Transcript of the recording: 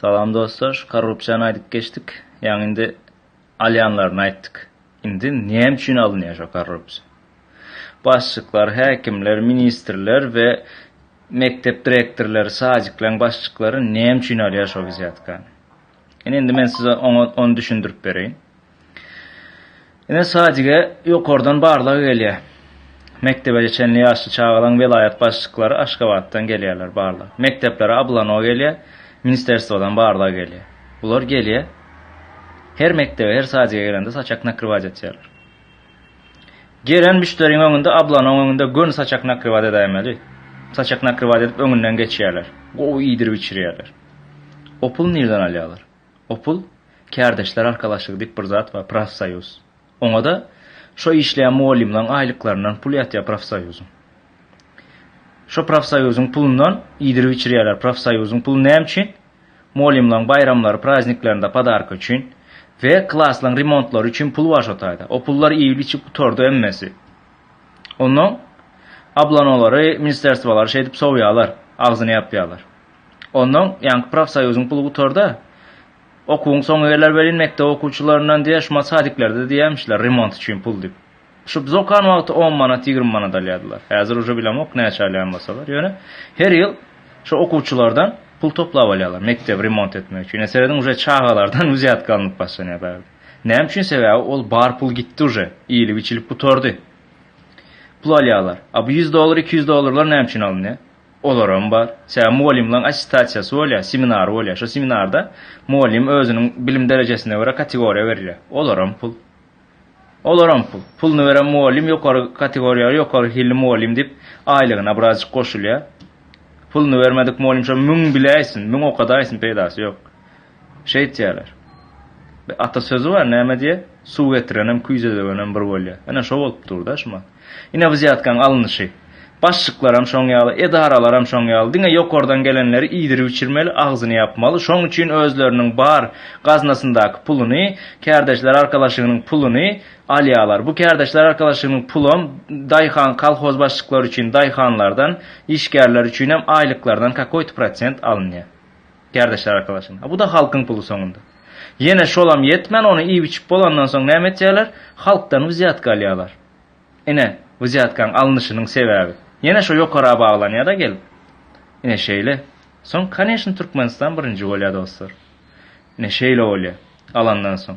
Salam dostlar şu korrupsiýany aýdyp geçdik ýaňy indi alýanlaryny aýtdyk indi näme üçin alynýar şo korrupsiýa başlyklar häkimler ministrler we mekdep direktorlary sadiklaň başlyklary näme üçin alýar şo wzýatkany ine indi men size oňa ony düşündirip bereýin. Ine sadige ýokardan barlag gelýä. Mekdebece çenli ýaşly çagalaň welaýat başlyklary Aşgabatdan gelýärler barlag. Mekdeplere Ablano gelýä, ministerstwodan barlag gelýä. Bular gelýä. Her mekdebe her sadige gelende saçak nakrywaat etýärler. Gelen müşderiň öňünde Ablanoň öňünde göni saçak nakrywaat edäýmeli. Saçak nakrywaat edip öňünden geçýärler. Gowy iýdirip içirýärler. O pul nirden alýarlar. Opul, kärdeşler arkalaşygy diýip bir zat bar, profsoýuz. Oňa-da şo işleýän mugallymlaryň aýlyklaryndan pul ýatýar profsoýuzyň. Şo profsoýuzyň pulundan iýdirip içirýärler. Profsoýuzyň puly näme üçin? Mugallymlaryň baýramlary, prazniklerinde podarka üçin we klaslaryň remontlary üçin pul bar şo taýda. O pullar iýilip-içip gutardy hemmesi. Onnoň ablanolary, ministerstwolary şeýdip sowýarlar, agzyny ýapýarlar. Onnoň, ýaňky profsoýuzyň puly gutardy. Okuwyň soňy geler welin, mekdep okuwçylaryndan diýer, şumat sadiklerde diýermişler, remont üçin pul diýip. Şu biz okan wagty on manat, ýigrimi manat alýardylar. Häzir uje bilemok, näçe alýan bolsalar. Ýöne, her ýyl şo okuwçylardan pul toplap alýarlar, mekdebi remont etmek üçin. Ine, serediň, uje çagalardan wzýatka alnyp başlanýar bärde. Näme üçin? Sebäbi ol bar pul gitdi uje, iýlip-içilip gutardy. Pul alýarlar. A bu ýüz dollar, iki ýüz dollarlar näme üçin alynýar? Olaram bar. Sebäbi mugallymlaryň attestasiýasy bolýar, seminary bolýar. Şo seminarda mugallym özüniň bilim derejesine görä kategoriýa berilýär. Olaram pul. Olaram pul. Puluny beren mugallym ýokary kategoriýaly, ýokary hilli mugallym diýip, aýlygyna birazjyk goşulýar. Puluny bermedik mugallym şo müň biläýsin, müň okadaýsyn, peýdasy ýok. Şeýtýärler. Bir ata sözi bar, näme diýýä, Suw getirenem, küýze döwenem bir bolýar. Ine, şo bolup dur-da şu mat. Ine, wzýatkaň alnyşy. Başlyklaram şoň ýaly, edaralaram şoň ýaly. Diňe ýokardan gelenleri iýdirip-içirmeli, agzyny ýapmaly. Şoň üçin özleriniň bar gaznasyndaky puluny, kärdeşler arkalaşygynyň puluny alýarlar. Bu kärdeşler arkalaşygynyň pulam daýhan, kolhoz başlyklary üçin daýhanlardan, işgärler üçinem aýlyklardan kakoýto prosent alynýar. Kärdeşler arkalaşygyna. Bu-da halkyň puly soňunda. Ýene şolam ýetmän, ony iýip-içip bolandan soň näme etýärler? Halkdan wzýatka alýarlar. Ine, wzýatkaň alnyşynyň sebäbi. Ýene şo ýokara baglanýar-a gelip. Ine şeýle. Soň, koneçny, Türkmenistan birinji bolýar, dostlar. Ine şeýle bolýar, alandan soň.